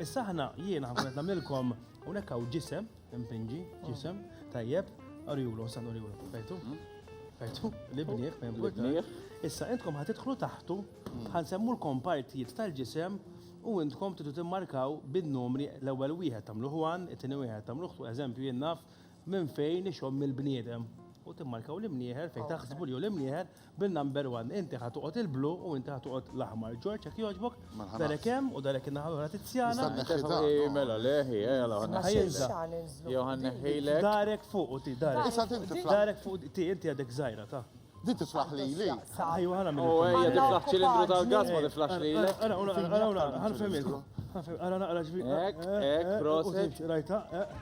Issa aħna jiena ħankun qed nagħmlilkom hawnhekk hawn ġisem, impinġi, ġisem, tajjeb, arjulu, sa nurjulu, fejtu? Fejtu, l-ibnieħ, fejn l-ibnieħ. Issa intkom ħatidħlu taħtu, ħansemmulkom partijiet tal-ġisem u intkom tidu timmarkaw bin-numri l-ewwel wieħed tagħmlu ħwan, it-tieni wieħed tagħmlu ħtu, eżempju jien naf minn fejn ixomm il-bniedem. U timmarkaw l-imnieħer fejn taħsbu li hu l-imnieħer Bin-number one, inti ħa toqgħod il-blu u inti ħa toqgħod l-aħmar. Ġorġ, jekk jogħġbok, darek hemm u darek in-naħa l-oħra Tizzjana. Mela le, jew ħa nneħħilek. Darek fuq u ti, darek. Issa din tiflaħ. Darek fuq ti, inti għadek żgħira ta. Din tiflaħ lili. Ejju ħana minn. U ejja tiflaħ ċilindru tal-gas ma tiflaħx lili. Ara, ara, ara, ara, ħanfemilkom. Ara naqra ġbir. Ek, ek, prosit. Rajta, ek.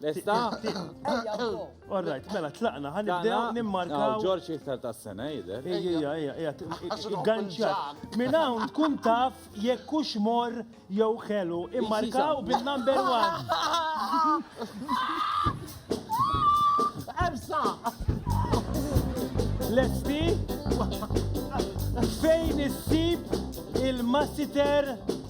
Lesta? All right, mela tlaqna, ħan nibdew nimmarkaw. Ġorġ iktar ta' sena jidher. Ejja, ejja, ejja, ganċat. Minn hawn tkun taf jekk hux mor jew ħelu. Immarkaw bin-number one. Ersa! Lesti? Fejn issib il-massiter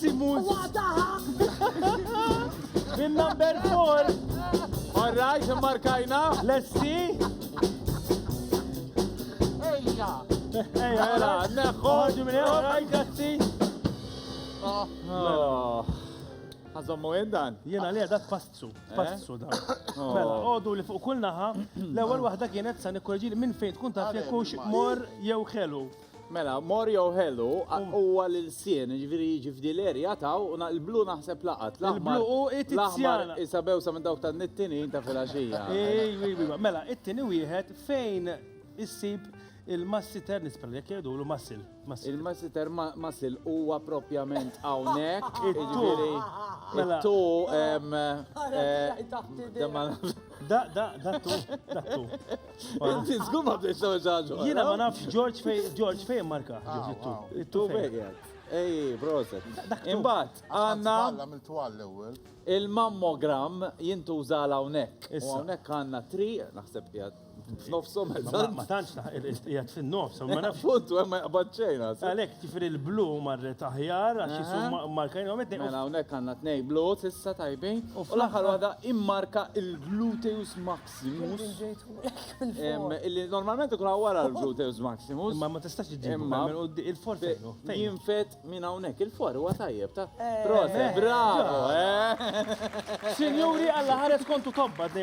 Simus. Bin number 4. All right, markajna. Let's see. Ejja. Ejja, ejja. Neħħu. Ħarġu minn ejja. Ejja, grazzi. Oh. Oh. Għazommu dan? Jena li għadak passu, eh? passu dan. Oh. Mela, għodu li fuq kull naħa, l-ewel wahda kienet sa' nikkorġi minn fejn tkun taf jekux mor jew xelu. Mela, mor jew ħelu huwa l-ilsien, ġifieri jiġi f'dileri jataw u l-blu naħseb laqat. L-blu u it-tizzjana. Isabew sa minn dawk tan-nittinin ta' filgħaxija. Mela, it-tieni wieħed fejn issib il-massiter nisper jekk jgħidulu massil. Il-massiter massil huwa propjament hawnhekk. Jiġifieri, mela. Tu Da, da, da, tu, da, tu. Inti zgur ma bdejt l ġaġu. Jina ma nafx George fej, George fej marka. Ah, tu begħed. Ej, brozet. Imbat, għanna. Il-mammogram jintuża għal hawnhekk. Hawnhekk għanna tri, naħseb jgħad. F'nofsom eżatt. Ma tantx qiegħed fin-nofs, ma nafx. Puntu hemm ma jaqbad xejn. Għalhekk ġifieri l-blu marret aħjar għax jisuma markajna huma tnejn. Mela hawnhekk għandna tnejn blu s'issa tajbin. U fl-aħħar waħda immarka l-gluteus maximus. Illi normalment ikun hawn wara l-gluteus maximus. Imma ma tistax iġġib minn qudiem il-for fejn hu. Jinfed minn hawnhekk il-for huwa tajjeb ta'. Proset, bravo! Sinjuri Alla ħares kontu tobba.